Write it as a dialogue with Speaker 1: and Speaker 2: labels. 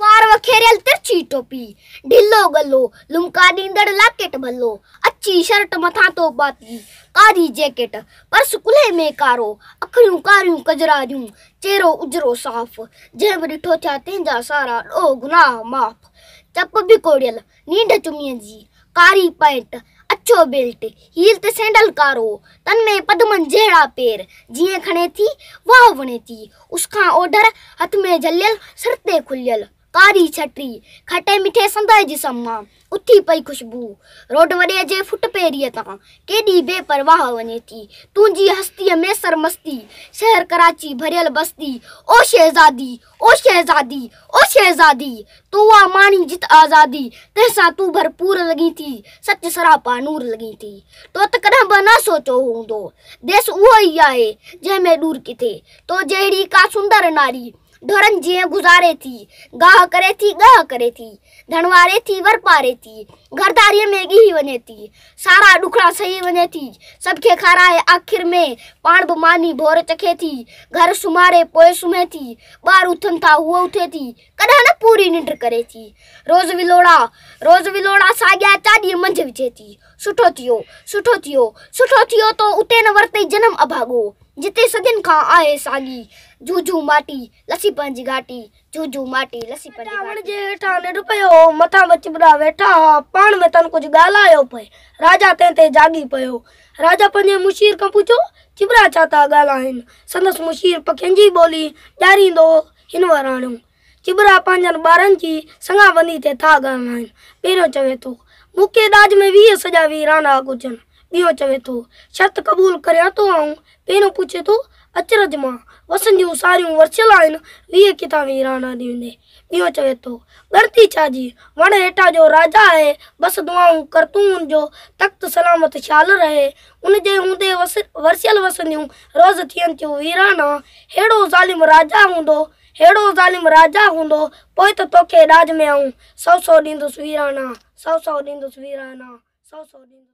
Speaker 1: وار وکيريل ترڇي ٽوپي، ڍلو ڳلو، لمڪا ڏيندڙ لاڪيٽ ڀلو، اڇي شرٽ مٿان تو پاتي، ڪاري جيڪيٽ، پرس ڪلهي ۾ ڪارو، اکڙيون ڪاريون ڪجراريون، چهرو اجرو صاف، جنهن به ڏٺو ٿيا تنهن جا سارا ڏوهه گناهه معاف، چپ ڀڪوڙيل، نينڍ چميء جي ڪاري پئنٽ، اڇو بيلٽ، هيل تي سينڊل ڪارو، تن ۾ پدمن جهڙا پير، جيئن کڻي ٿي، واهه وڻي ٿي. اس کان اوڍر، هٿ ۾ جهليل، سر تي کليل ڪاري ڇٽي، کٽي مٺي سندء جسم مان اٿي پئي خوشبو، روڊ وڏيء جي فٽ پيريء تان ڪيڏي بي پرواهه وڃي ٿي، تنهنجي هستيء ۾ سرمستي، شهر ڪراچي ڀريل بستي، او شهزادي! او شهزادي! او شهزادي! تون آ ماڻي جت آزادي، تنهن سان تون ڀرپور لڳين ٿي، سچ سراپا نور لڳين ٿي. تو ته ڪڏهن به نه سوچيو هوندو، ديس اهو ئي آهي، جنهن ۾ ڏور ڪٿي. تو جهڙي ڪا سندر ناري، ڍورن جيئن گذاري ٿي، گاهه ڪري ٿي، ڳاهه ڪري ٿي. ڌڻواري ٿي ور پاري ٿي. گهر ڌاريء ۾ ڳهي وڃي ٿي. سارا ڏکڙا سهي وڃي ٿي. سڀ کي کارائي آخر ۾ پاڻ به ماني ڀور چکي ٿي. گهر سمهاري پوء سمهي ٿي. ٻار اٿن ٿا هوء اٿي ٿي. ڪڏهن نه پوري ننڊ ڪري ٿي. روز ولوڙا روز ولوڙا ساڳيا چاڏيء منجهه وجهي ٿي. سٺو ٿيو سٺو ٿيو سٺو ٿيو تو اتي نه ورتئي جنم اڀاڳو جتي صدين کان آهي ساڳي جهجهون ماٽي لسي پنهنجي گهاٽي، جهو جهو ماٽي، لسي پنهنجي گهاٽي. وڻ جي هيٺان ننڊ پيو هو، مٿان ٻچٻرا ويٺا ها، پاڻ ۾ تن ڪجهه ڳالهايو پئي. راجا تنهن تي جاڳي پيو. راجا پنهنجي مشير کان پڇيو، چٻرا ڇا ٿا ڳالهائين؟ سندس مشير پکين جي ٻولي ڄاريندو هو، هن وراڻيو، چٻرا پنهنجن ٻارن جي سڱا وني تي ٿا ڳالهائين. پهريون چوي ٿو، مون کي ڏاج ۾ ويهه سڄا ويران آ گهرجن. ٻيو چوي ٿو، شرط قبول ڪريان ٿو آئون، پهريون پڇي ٿو، اچرج مان، وسن جون ساريون ورڇيل آهن، ويهه ڪتاب ايران آڏي ويندي. ٻيو چوي ٿو، ڳڻتي ڇا جي، وڻ هيٺان جو راجا آهي، بس دعائون ڪر تون ان جو تخت سلامت شال رهي، ان جي هوندي ورڇيل وسن جون روز ٿين ٿيون ويران، ههڙو ظالم راجا هوندو، ههڙو ظالم راجا هوندو، پوء ته توکي ڏاج ۾ آئون، سؤ سؤ ڏيندس ويران، سؤ سؤ ڏيندس ويران، سؤ سؤ ڏيندس.